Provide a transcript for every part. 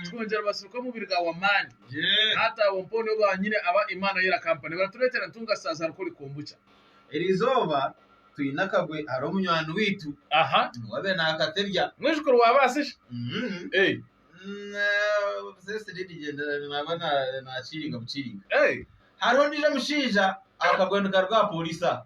Twongera basirukwa omubiri gaawe amaani. Taata abo mpaho nibo baanyine aba Imaana yo erakampa. Nibaratureetera ntunga saazi hari kuri kombucha. Eri izooba twine akagwe hariho munywani waitu niwe abaire naakatebya. Mwijukuru wa baasisha? Eeh. Obusesi nibigyendera naaba naakiiringa bukiiringa. Hariho ondiijo mushaija akagwe nikaruga aha pooriisi aha.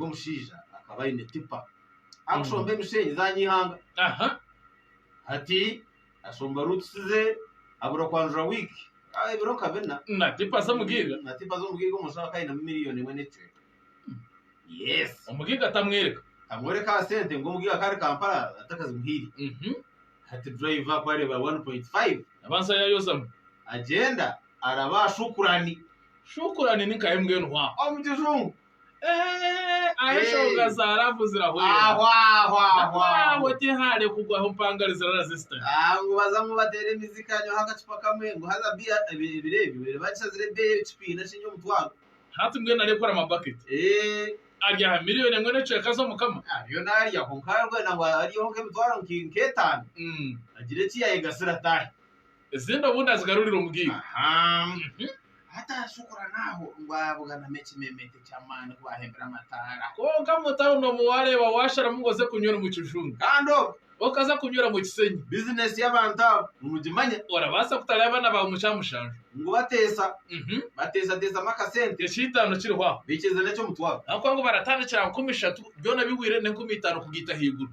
Omushaija akaba aine tipa arikushomba emishenyi za Nyihanga. Aha. Hati ashomba ruutusi ze abura kwanjura wiiki ah, ebiro nka bina Na tipa z'omugiiga. na tipa z'omugiiga omuntu aba akainamu miliyoni emwe n'ekicweka yes Omugiiga tamwereka. amworeka aha sente ngu omugiiga akari Kampala atakazimuhaire Mhm. hati driver kwareeba 1.5 Abanza yayozamu. agyenda araba aha shukurani Shukurani ni nka MN hwa. omu kijungu Aho enshonga za laavu zirahwera. Aho tihaari kugwaho mpangare zira resistant. Ngu baza ngu bateera emizi kanywaho akacupa kamwe ngu haza biya ebiro ebyo babaire bagishazire ebeeyi ekipiina kiri omutwaro. Hati mbwenu nareekora amabaketi. Ari aha miriyoni emwe n'ekicweka z'omukama. Ariyo naarya kwonka arikugyenda ngu aryeho nk'emitwaro nk'etaano agire eki yaayegasira ataahe. Ezindi obundi azigarurira omu giiga. Aha. Hati ashukura n'aho ngu abuganamu ekimemete eky'amaani ku baahembire amataara. Kwonka mu tauni omu waareeba waasharamu ngu oze kunywera omu kijungu. Kandi obu. Okaza kunywera omu kisenyi. Bizineesi y'abantu abo nimugimanya. Orabaasa kutara y'abaana baawe mu kya mushanju. Ngu bateesa. Bateesateesamu akasente. Eky'eitaano kiriho aho. Baikiriza n'eky'omutwaro. Ahabw'okuba ngu baratandikira aha nkumi ishatu, byona bihweire n'enkumi itaano kugaita ahaiguru.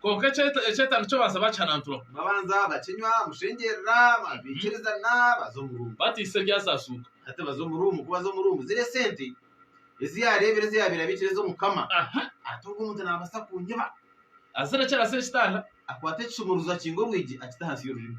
Kwonka ekyetaago eki obaasa ba kihananturwa. Babanza bakinywa, mushengyerera, baikirizana, baza omu ruumu. Batiisa ebyasasuuka. Hati baza omu ruumu. Ku baza omu ruumu, ziri esente ezi yaareebire ezi yaabaire abiikire ez'Omukama. Aha! Ati, Ogwo muntu naabaasa kunyiba. Azire eki arase ekitanda. Akwata ekisumuruzo akinga orwigi akita ahansi y'orurimi.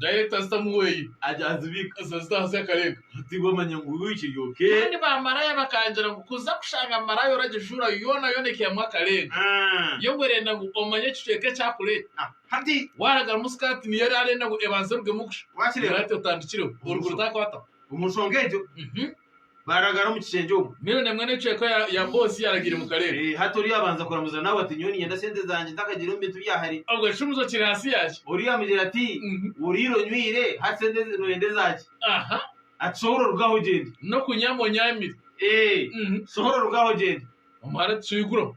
Dayirekita azitamu hwei, azita ahansi akarenga. Kandi bamaraaya bakangira ngu, Kuza kushanga maraaya oragijuura yoonayoona ekihemu akarenga. Yo ngu erenda ngu omanye ekicweka eki akureeta. Waaragarumu sikaati niyo ari arenda ngu ebanze erugemu kusha. Maraaya ati, Otandikireho, oruguru taakwataho. Baragara omu kishengye omu. Mbwenu na emwe n'ecweka ya, ya boss yaragiire mu karere. Eh, hati oriya abanza kuramuza nawe ati nyowe ninyenda sente zangye ntakagiire omu bintu bya hare. Obwo ekishumuzo kiri hasi yaki? Oriya amugira ati Mhm. oriire onywire hati sente ezi noyenda ezaki? Aha. Ati sohora orugaho ogyende. N'okunyama onyamire. Eh, Mhm. sohora orugaho ogyende. Omuhara ati shuha iguraho.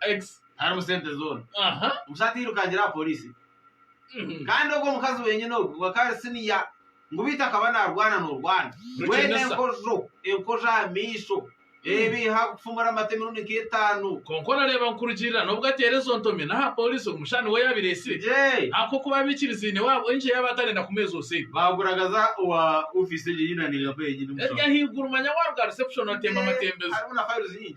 Ex harimu sente zoona. Aha. Omushaija tairukangira aha polisi. Mhm. Kandi ogwo omukazi wenyine ogwo akaba ari siniya ngu beitu akaba narwana norwana. Rukinisa. Wena enkojo, enkojo aha maisho. Ebiiha kufumura amate emirundi nka etaano. Kwonka orareeba nkurugirira n'obu ateera ezo ntomi n'aha polisi ogwo mushaija niwe yabaire aitsire. Yee. Ahakokuba abikirizaine waabo enki yaaba atarenda kumuheeza obusaidi. Baaguragaza owa ofiisi egyo ei naninga mpaho enyine omu Eryo shaaha. ahaiguru manya waaruga aha reception otemba Yee, amatembezo. Harimu na files nyingi.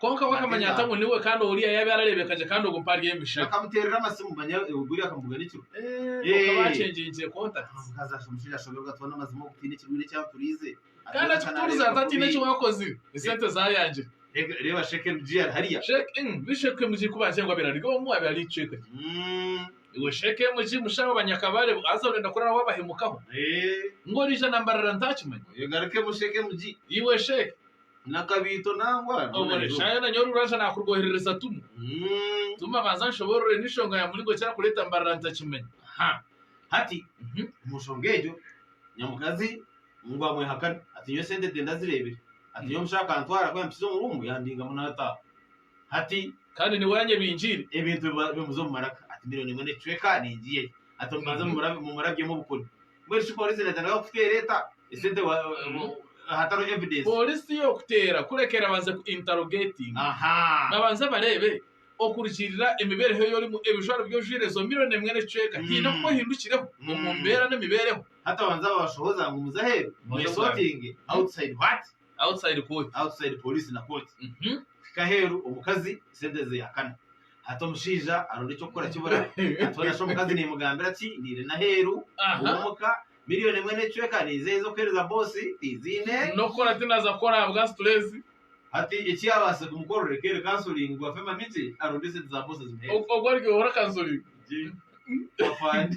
Kwonka we akamanya ata ngu niwe, kandi oriya yaabaire arareebeka gye kandi ogwo mpaha ari emishabe? Kwonka baakyengyenkire kontakiti. Kandi akikutuuriza ati, Hataine eki waakozire, esente zaayangire. Sheekemu gi ku baagira ngu abaire ari omwe, abaire ari eicweka rye. Iwe Shekemu ji mushaho banyakabare bo haza orenda kurara wabahemukaho ngu orija na mbarara ntakimanya? Oyo garukemu Shekemu ji. Iwe Sheke. Na kabiito nangwa Omore. Shayo na nyowe ruraja nakurwoherereza tumu. Tuma banza anshoborore n'enshonga ya muringo ki arakureta mbarara ntakimanya. Ha. Hati, omu nshonga egyo, nyamukazi ngu amwehakane. Hati nyowe sente de ndazirebire. Hati nyowe omushaho akantwara ku yampikize omu ruumu yandingamu nataaha. Hati, kandi niwe oranyebingiire ebintu ebi baabimuza omu maraka. Ati, Milioni emwe n'ekicweka ningiiya egi. Ati, Omubanze mumurabyemu obukuri. Mbwenu shi pooriisi ereetaniraho kuteera eta esente hatariho evidensi? Pooriisi tiyookuteera kureka erabanze ku intarogeetinga. Babanze bareebe okurugiirira emibeereho ei orimu ebijwaro bi ojwaire ezo milioni emwe n'ekicweka haine oku ohindukireho omu mbeera n'emibeereho. Hati abanze abashohoze ngu muze aheeru mwesotinge, outside what? Outside court. outside police na court Mhm. kuhika aheru omukazi sente ze yakana hati omushaija aronda ekyokukora kibura hati hoona shi omukazi nemugambira ki niire naheru Aha. owomuka million emwe necweka nizehe ezokuhereza boss tiziine Nokukora tinaza kukora ahabwa stress. hati ekyabaase kumukorera ekeeri counseling ngu afemu amiti aronde esente za boss azimuhereze. Ogwo aryohora counseling. Gye afande.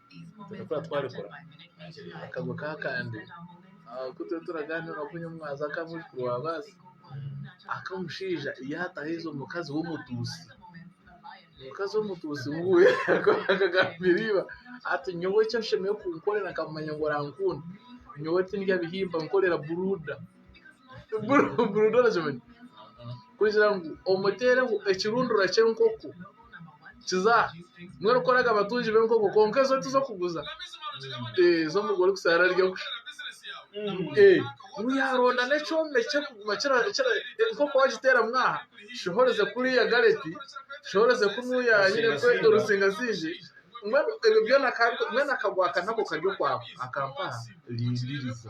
Tibarikwera twarikura akagwe ka kandi ku turiyo turagaanira na kunywa mwaza ka mujukuru wa baasi aka omushaija yaatahaize omukazi w'omutuusi omukazi w'omutuusi wuuyo akagambira iba ati nyowe eki oshemereire kunkorera nkakumanya ngu orankunda nyowe tindya bihimba nkorera buruuda. kugira ngu omuteereho ekirundura ky'enkoko kiza mbwenu ku oraga abatungi b'enkoko kwonka ezo tiz'okuguza ez'omuka orikuzaara arya kusha yaaronda n'ekyoma ekirikuguma enkoko waagiteeramu aha shiha orize kuriya gareti shiha orize kunuuya rutsingatsiingi mbwenu ebyo byona mbwenu akagwaka nako kari okwako akampaha rindiiriza.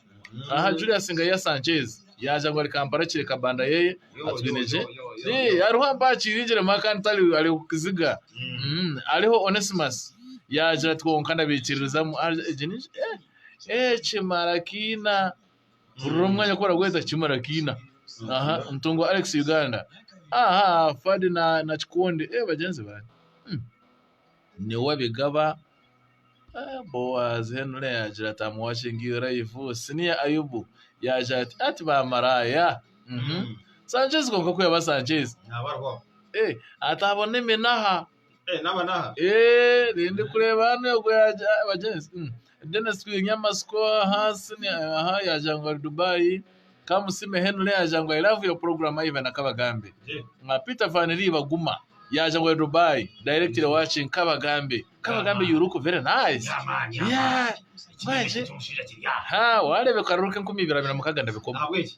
Aha Julius Ngaiya Sanchez yaaja ngu ari Kampala akire Kabanda yeye atwine gye. Ee, hariho ampaa akiiringire mwa kandi tari ari oku kiziga. Mm, Hariho Onesimus yaagira ati kwonka ndabaikiririzamu. Ah, Egi ni eh, eh, Kimarakiina. Hurira omwanya ku baragweta Kimarakiina. Aha, Ntungwa Alex Uganda. Aha, Fadi na, na Kikundi. Eh, bagyenzi bange. Mm. niwe abigaba Boazi hanuura yaagira ati am watching you live senior Ayubu yaagira ati hati bamaraaya Sanchez kwonka ku yaaba Sanchez ati abo n'eminaha rindikureeba hanu egwe yaagira bagyenzi. Dennis Kwihinya Amatsiko Ahansi Aha Yaagira Ngu Ari Dubai Kamusiime Henry Yaagira Ngu I Love Your Program Ivan Na Kabagambe Peter Van Riba Guma Yaagira Ngu Ari Dubai Directly Watching Kabagambe Kabagambe You Look Very Nice Yeah Mbwenu Haa Wareeba Ekaruru K'enkumi Ibiri Abiri Na Mukaaga Ndabikomo Ahabw'enki?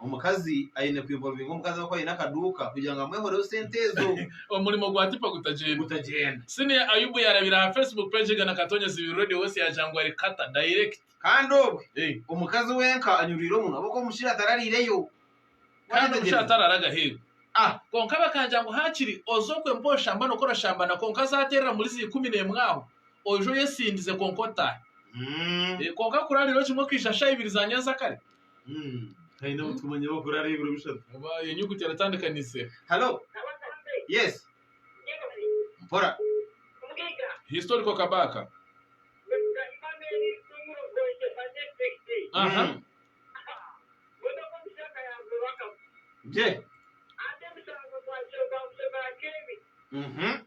Omukazi aine ku involvinga omukazi we ku aine akaduuka kugira ngu amwehoreho sente ezo. Omurimo gwa Tipa gutagyenda. Gutagyenda. Senior Ayubu yaarabire aha Facebook page egana Katonyezi Biru Radio West yaagira ngu ari kata, direct. Kandi obwe, Hey. omukazi wenka anyurwire omunwa ahabw'okuba omushiija atarariireyo. Kandi omushiija Waayetegyereza? atararaga aheeru. Ah! Kwonka bakaagira ngu haakiri oze okwe mpozi oshamba n'oku orashambana kwonka aze ateerera muri zi ikumi n'emwe aho, oije oyesindize kwonka otaahe. Mm. Eh, Kwonka kurarirayo kimwe okaija shaaha ibiri za nyanzakare. Haine abu tukumanya bakuraara ebiro bishatu. Oba iyo nyuguti eratandikanise. Hello. Yes. Mpora. Historical Kabaka. Aha. Mm. Je. Mhm.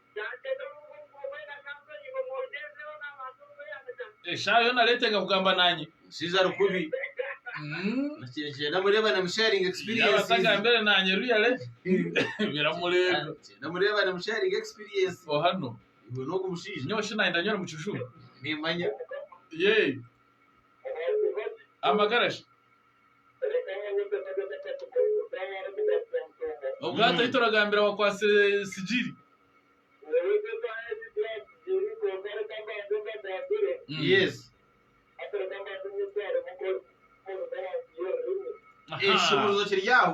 Eshaaha yoona areetenga kugamba naanye. Omushaija ari kubi. Nikigyenda mureebane mu sharing Yaaba experiences. atagambire naanye real biramurenga. Nikigyenda mureebane mu sharing experience. O hanu. Iwe n'ogu mushaija. Nyowe shi naayenda nyowe mukijuma. Nimmanya. Yee. Amagara shi. Obwato ei turagambira wakwatsire sigiri. Yes. Aha. Ekishumuruzo kiri aho.